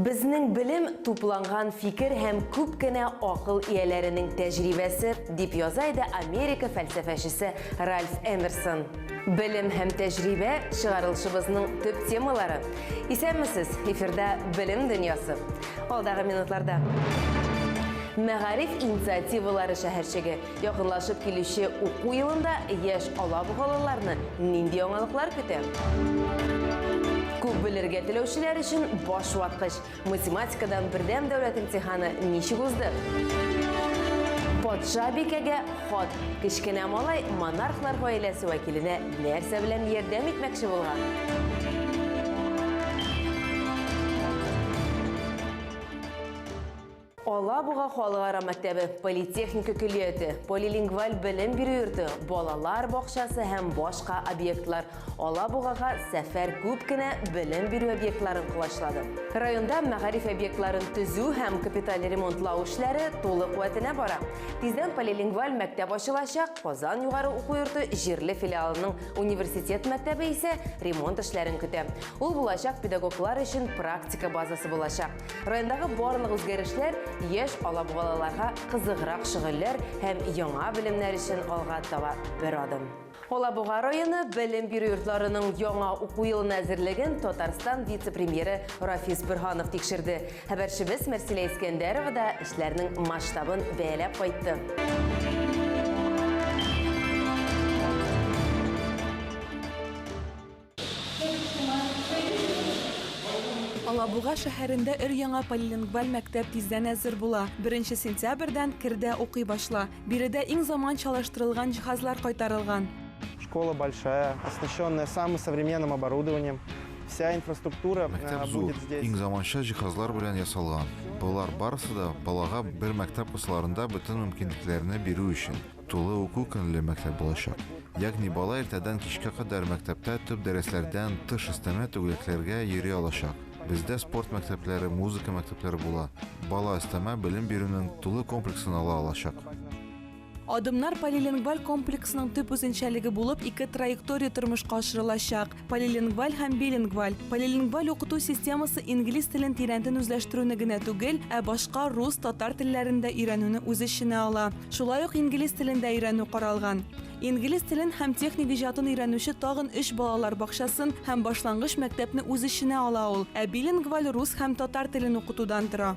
Безнең белем тупланган фикер һәм күп кенә акыл ияләренең тәҗрибәсе, дип яза иде Америка фәлсәфәчесе Ральф Эмерсон. Белем һәм тәҗрибә чыгарылышыбызның төп темалары. Исәнмесез, эфирда Белем дөньясы. Алдагы минутларда. Мәгариф инициативалары шәһәрчеге Якынлашып килүче уку елында яшь алабугалыларны нинди яңалыклар көтә? Күп белергә теләүчеләр өчен баш ваткыч. Математикадан бердәм дәүләт имтиханы ничек узды? Патша бикәгә хат. Кечкенә малай монархлар гаиләсе вәкиленә нәрсә белән ярдәм итмәкче булган? Алабуга халыкара мәктәбе, политехника көллияте, полилингваль белем бирү йорты, балалар бакчасы һәм башка объектлар Алабугага сәфәр күп кенә белем бирү объектларын колачлады. Районда мәгариф объектларын төзү һәм капиталь ремонтлау эшләре тулы куәтенә бара. Тиздән полилингваль мәктәп ачылачак, Казан югары уку йорты җирле филиалының университет мәктәбе исә ремонт эшләрен көтә. Ул булачак педагоглар өчен практика базасы булачак. Райондагы барлык үзгәрешләр яшь алабугалаларга кызыграк шөгыльләр һәм яңа белемнәр өчен алга таба бер адым. Алабуга районы белем бирү йортларының яңа уку елына әзерлеген Татарстан вице-премьеры Рафис Бөрһанов тикшерде. Хәбәрчебез Мәрсилә Искәндәрова да эшләрнең масштабын бәяләп кайтты. Алабуга шәһәрендә өр-яңа полилингваль мәктәп тиздән әзер була. Беренче сентябрьдән кер дә укый башла. Биредә иң заманчалаштырылган җиһазлар кайтарылган. Школа большая, оснащенная самым современным оборудованием. Вся инфраструктура будет здесь. Мәктәп зур, иң заманча җиһазлар белән ясалган. Болар барысы да балага бер мәктәп кысаларында бөтен мөмкинлекләрне бирү өчен. Тулы уку көнле мәктәп булачак. Ягъни бала иртәдән кичкә кадәр мәктәптә төп дәресләрдән тыш өстәмә түгәрәкләргә йөри алачак. Бездә спорт мәктәпләре, музыка мәктәпләре була. Бала өстәмә белем бирүнең тулы комплексын ала алачак. Адымнар полилингваль комплексының төп үзенчәлеге булып ике траектория тормышка ашырылачак. Полилингваль һәм билингваль. Полилингваль укыту системасы инглиз телен тирәнтен үзләштерүне генә түгел, ә башка рус, татар телләрен дә өйрәнүне үз эченә ала. Шулай ук инглиз телен дә өйрәнү каралган. Инглиз телен һәм техник иҗатын өйрәнүче тагын өч балалар бакчасын һәм башлангыч мәктәпне үз эченә ала ул, ә билингваль рус һәм татар телен укытудан тора.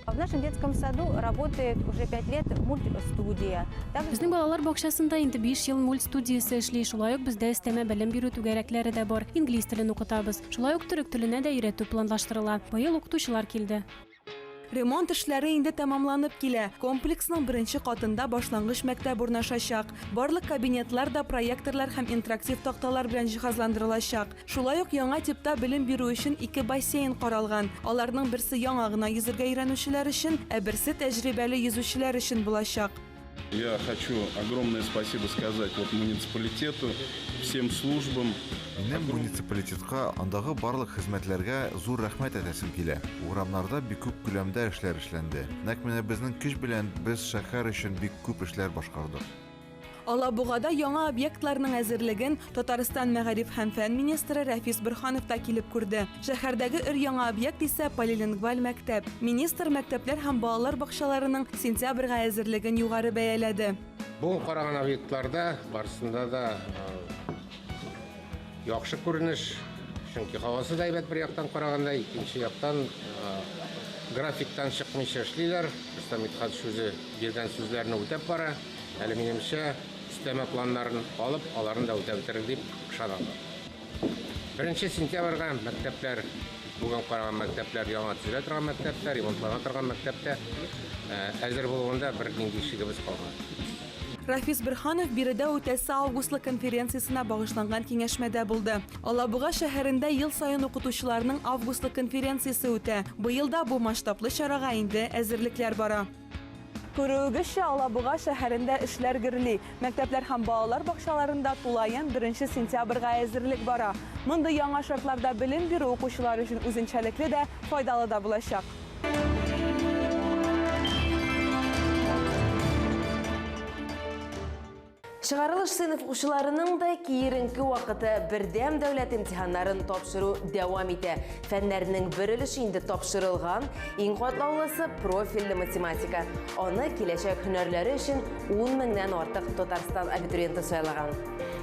В нашем детском саду работает уже пять лет мультстудия. Безнең балалар бакчасында инде 5 ел мульт студиясе эшли. Шулай ук бездә өстәмә белем бирү түгәрәкләре дә бар. Инглиз телен укытабыз. Шулай ук төрек теленә дә өйрәтү планлаштырыла. Быел укытучылар килде. Ремонт эшләре инде тәмамланып килә. Комплексның беренче катында башлангыч мәктәп урнашачак. Барлык кабинетлар да проекторлар һәм интерактив такталар белән җиһазландырылачак. Шулай ук яңа типта белем бирү өчен ике бассейн каралган. Аларның берсе яңа гына йөзергә өйрәнүчеләр өчен, ә берсе тәҗрибәле йөзүчеләр өчен булачак. Я хочу огромное спасибо сказать вот муниципалитету, всем службам. Минем муниципалитетка, андагы барлык хезмәтләргә зур рәхмәт әтәсем килә. Урамнарда бик күп күләмдә эшләр эшләнде. Нәкъ менә безнең көч белән без шәһәр өчен бик күп эшләр башкардык. Алабугада яңа объектларның әзерлеген Татарстан мәгариф һәм фән министры Рәфис Борһанов та килеп күрде. Шәһәрдәге өр-яңа объект исә полилингваль мәктәп. Министр мәктәпләр һәм балалар бакчаларының сентябрьгә әзерлеген югары бәяләде. Бүген караган объектларда барысында да Яхшы күренеш, чөнки һавасы да әйбәт бер яктан караганда, икенче яктан графиктан чыкмыйча эшлиләр. Рөстәм Митхат сүзе биргән сүзләрне үтәп бара. Әле минемчә, өстәмә планнарын алып, аларны да үтәп бетерер дип ышанам. Беренче сентябрьгә мәктәпләр, бүген караган мәктәпләр, яңа төзелә торган мәктәптә, ремонтлана торган мәктәптә әзер булуында бер нинди шигебез калмады. Рафис Берханов биредә үтәсе августлык конференциясенә багышланган киңәшмәдә булды. Алабуга шәһәрендә ел саен укытучыларның августлык конференциясе үтә. Быел да бу масштаблы чарага инде әзерлекләр бара. Күрүегезчә, Алабуга шәһәрендә эшләр гөрли. Мәктәпләр һәм балалар бакчаларында тулаем беренче сентябрьгә әзерлек бара. Мондый яңа шартларда белем бирү укучылар өчен үзенчәлекле дә, файдалы да булачак. Чыгарылыш сыйныф укучыларының да киеренке вакыты бердәм дәүләт имтиханнарын тапшыру дәвам итә. Фәннәрнең бер өлеше инде тапшырылган, иң катлаулысы профильле математика. Аны киләчәк һөнәрләре өчен 10 меңнән артык Татарстан абитуриенты сайлаган.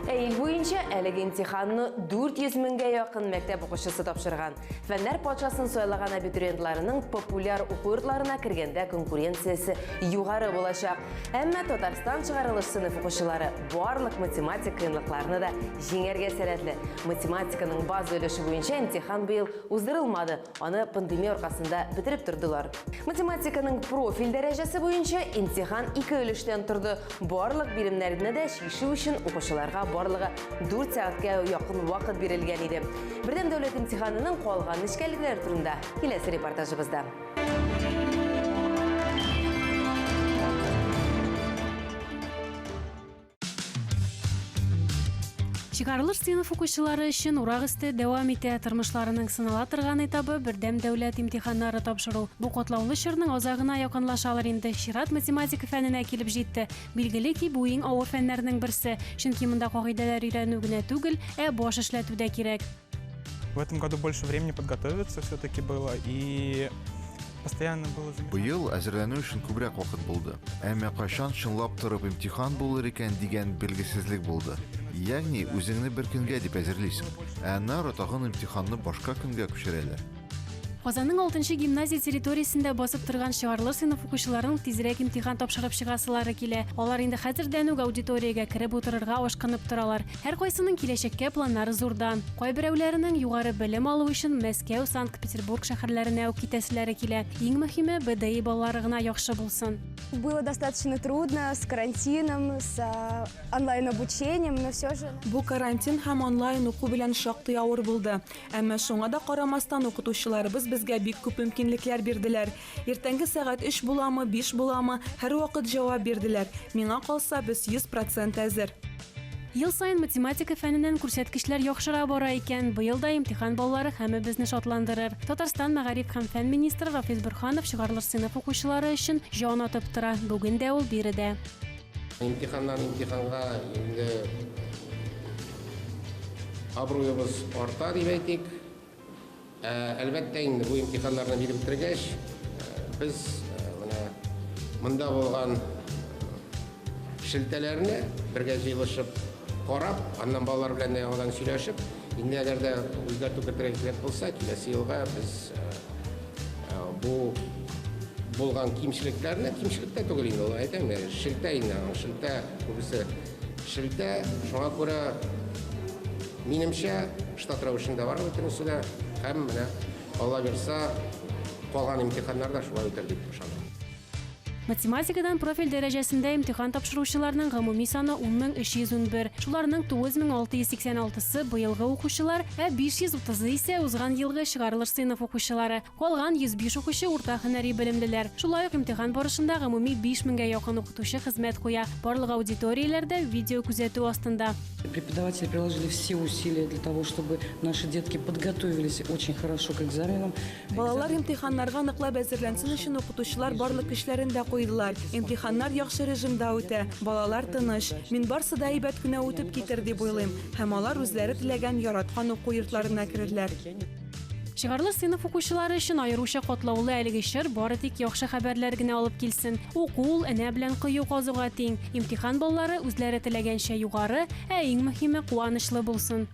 Ә ил буенча әлеге имтиханны 400 меңгә якын мәктәп укучысы тапшырган. Фәннәр патшасын сайлаган абитуриентларының популяр уку йортларына кергәндә конкуренциясе югары булачак. Әмма Татарстан чыгарылыш сыйныф укучылары барлык математик кыенлыкларны да җиңәргә сәләтле. Математиканың база өлеше буенча имтихан быел уздырылмады, аны пандемия аркасында бетереп тордылар. Математиканың профиль дәрәҗәсе буенча имтихан ике өлештән торды. Барлык биремнәрне дә чишү өчен укучыларга барлыгы 4 сәгатькә якын вакыт бирелгән иде. Бердәм дәүләт имтиханының калган нечкәлекләре турында киләсе репортажыбызда. Чыгарылыш сыйныф укучылары өчен урак өсте дәвам итә. Тормышларының сынала торган этабы бердәм дәүләт имтиханнары тапшыру. Бу катлаулы чорның азагына якынлашалар инде. Чират математика фәненә килеп җитте. Билгеле ки, бу иң авыр фәннәрнең берсе, чөнки монда кагыйдәләр өйрәнү генә түгел, ә баш эшләтү дә кирәк. В этом году больше времени подготовиться все-таки было и постоянно было Быел әзерләнү өчен күбрәк вакыт булды. Әмма кайчан чынлап торып имтихан булыр икән дигән белгесезлек булды. Ягъни үзеңне бер көнгә дип әзерлисең, ә аннары тагын имтиханны башка көнгә күчерәләр. Казанның алтынчы гимназия территориясендә басып торган чыгарлы сыйныф укучыларының тизрәк имтихан тапшырып чыгасылары килә. Алар инде хәзердән үк аудиториягә кереп утырырга ашкынып торалар. Һәркайсының киләчәккә планнары зурдан. Кайберәүләренең югары белем алу өчен Мәскәү, Санкт-Петербург шәһәрләренә үк китәселәре килә. Иң мөһиме, БДИ балалары гына яхшы булсын. Было достаточно трудно с карантином, с а, онлайн-обучением, но все же... Бу карантин һәм онлайн уку белән шактый авыр булды. Әмма шуңа да карамастан, укытучыларыбыз безгә бик күп мөмкинлекләр бирделәр. Иртәнге сәгать өч буламы, биш буламы, һәрвакыт җавап бирделәр. Миңа калса, без йөз процент әзер. Ел саен математика фәненнән күрсәткечләр яхшыра бара икән. Быел да имтихан баллары һәммәбезне шатландырыр. Татарстан мәгариф һәм фән министры Рафис Борһанов чыгарылыш сыйныф укучылары өчен җан атып тора. Бүген дә ул биредә. Имтиханнан имтиханга инде абруебыз арта дип әйтик. Ә, әлбәттә инде бу имтиханнарны биреп бетергәч, без менә монда булган шелтәләрне бергә җыелышып карап, аннан балалар белән дә яңадан сөйләшеп, инде әгәр дә үзгәртү кертергә кирәк булса, киләсе елга без Бу булган кимчелекләрне, кимчелек тә түгел инде, әйтәм, шелтә инде, шелтә күбесе. Шелтә, шуңа күрә минемчә штат рәвешендә бара бөтенесе дә һәм менә Алла бирса, калган имтиханнар да шулай үтәр дип ышанам. Математикадан профиль дәрәҗәсендә имтихан тапшыручыларның гомуми саны 10311. Шуларның 9686-сы быелгы укучылар, ә 530-ы исә узган елгы чыгарылыш сыйныф укучылары. Калган 105 укучы урта һөнәри белемлеләр. Шулай ук имтихан барышында гомуми 5000 гә якын укытучы хезмәт куя. Барлык аудиторияләр дә видеокүзәтү астында. Преподаватели приложили все усилия для того, чтобы наши детки подготовились очень хорошо к экзаменам. Балалар имтиханнарга ныклап әзерләнсен өчен укытучылар барлык көчләрен дә куйдылар. Имтиханнар яхшы режимда үтә, балалар тыныч. Мин барсы да әйбәт кенә үтеп китер дип уйлыйм. Һәм алар үзләре теләгән, яраткан уку йортларына керерләр. Чыгарлы сыйныф укучылары өчен аеруча катлаулы әлеге чор бары тик яхшы хәбәрләр генә алып килсен. Уку ул энә белән кою казуга тиң. Имтихан баллары үзләре теләгәнчә югары, ә иң мөһиме, куанычлы булсын.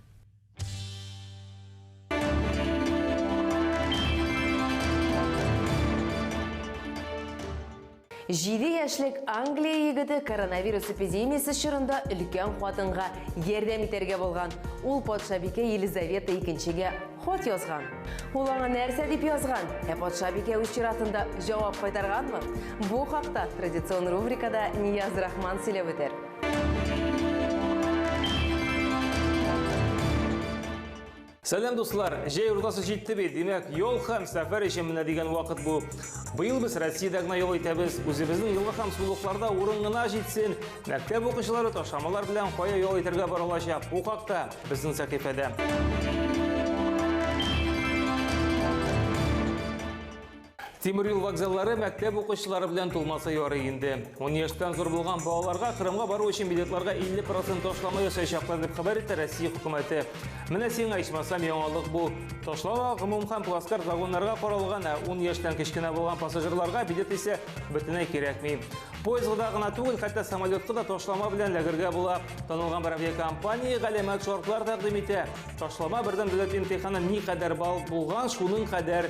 Җиде яшьлек Англия егеты коронавирус эпидемиясе чорында өлкән хатынга ярдәм итәргә булган. Ул патшабикә Елизавета икенчегә хат язган. Ул аңа нәрсә дип язган? Ә патшабикә үз чиратында җавап кайтарганмы? Бу хакта традицион рубрикада Нияз Рахман сөйләп үтәр. Сәлем дуслар, җәй уртасы җитте бит, димәк, юл һәм сәфәр өчен менә дигән вакыт бу. Быел без Россиядә генә юл итәбез, үзебезнең елга һәм сулыкларда урын гына җитсен. Мәктәп укучылары ташламалар белән кая юл итәргә бара алачак? Бу хакта безнең сәхифәдә. Тимер юл вокзаллары мәктәп укучылары белән тулмаса ярый инде. 10 яшьтән зур булган балаларга Кырымга бару өчен билетларга 50% ташлама ясаячаклар дип хәбәр итә Россия хөкүмәте. Менә сиңа ичмасам яңалык бу. Ташлама гомум һәм плацкарт вагоннарга каралган, ә 10 яшьтән кечкенә булган пассажирларга билет исә бөтенләй кирәкми. Поездга гына түгел, хәтта самолетка да ташлама белән ләгергә була. Танылган бер авиакомпания галәмәт шартлар тәкъдим итә. Ташлама бердәм дәүләт имтиханы никадәр балл булган, шуның кадәр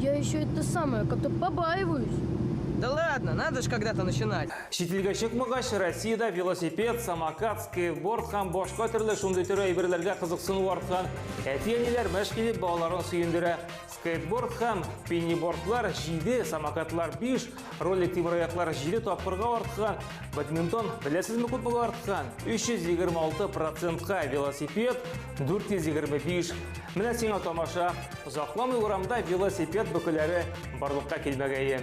Я еще это самое, как-то побаиваюсь. Да ладно, надо же когда-то начинать. Чителгә чыкмагач, Россиядә велосипед, самокат, скейтборд һәм башка төрле шундый төрле әйберләргә кызыксыну арткан. Әти-әниләр мәш килеп балаларын сөендерә. Скейтборд һәм пеннибордлар 7, самокатлар 5, Ролик тимерояклар 7 тапкырга арткан, бадминтон беләсезме күпмегә арткан? 326 процентка велосипед 425. Менә сиңа тамаша. Озакламый урамда велосипед бөкеләре барлыкка килмәгәе.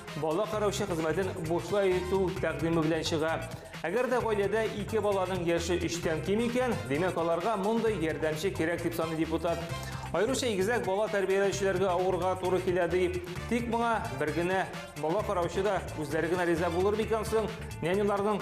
Бала караучы хезмәтен бушлай итү тәкъдиме белән чыга. Әгәр дә гаиләдә ике баланың яше өчтән ким икән, димәк аларга мондый ярдәмче кирәк дип саный депутат. Аеруча игезәк бала тәрбияләүчеләргә авырга туры килә ди. Тик моңа бер генә бала караучы да үзләре генә риза булыр микән соң? Няняларның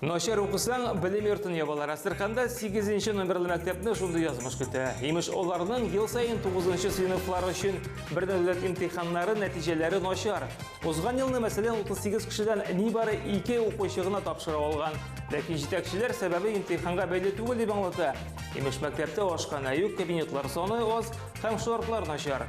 Начар укысаң, белем йортын ябалар. Әстерханда 8 номерлы мәктәпне шундый язмыш көтә. Имеш, оларның ел сайын 9 сыйныфлар өчен бер дәүләт имтиханнары нәтиҗәләре начар. Узган елны, мәсәлән, 38 кешедән нибары 2 укучы гына тапшыра алган. Ләкин җитәкчеләр сәбәбе имтиханга бәйле түгел дип аңлата. Имеш, мәктәптә ашханә юк, кабинетлар саны аз һәм шартлар начар.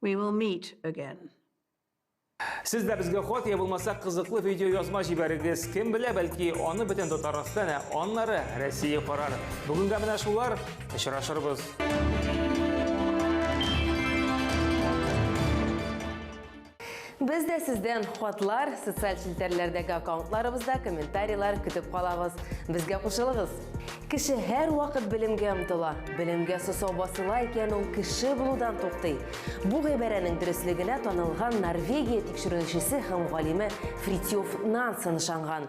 We will meet again. Сез дә безгә хат я булмаса кызыклы видео язма җибәрегез. Кем белә, бәлки аны бөтен Татарстан, ә аннары Россия карар. Бүгенгә менә шулар, очрашырбыз. Без дә сездән хатлар, социаль челтәрләрдәге аккаунтларыбызда комментарийлар көтеп калабыз. Безгә кушылыгыз! Кеше һәр вакыт белемгә омтыла. Белемгә сосау басыла икән, ул кеше булудан туктый. Бу гыйбарәнең дөреслегенә танылган Норвегия тикшеренүчесе һәм галиме Фритьёф Нансен ышанган.